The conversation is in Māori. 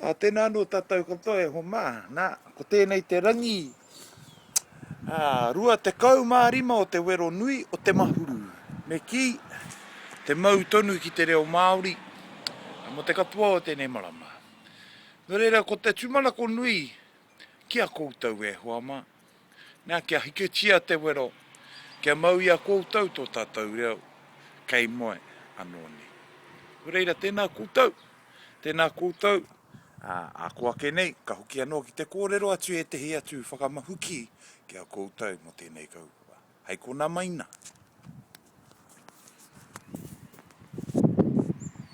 Ā, tēnā anō tātou katoa e homā. Nā, ko tēnei te rangi ā, 25 o te wero nui o te mahuru. Me kī, te mau tonu ki te reo Māori mō te katoa o tēnei marama. Nō reira, ko te tūmanako nui ki a koutou e hoa mā. Nā, kia hiketia te wero, kia mau i a koutou tō tātou reo kei moe anō nei. Nō reira, tēnā koutou, tēnā koutou, ā, ako ake nei, ka hoki anō ki te kōrero atu i ētehi atu whakamahuki ki a koutou mō tēnei kaupapa. Hei konā mai nā.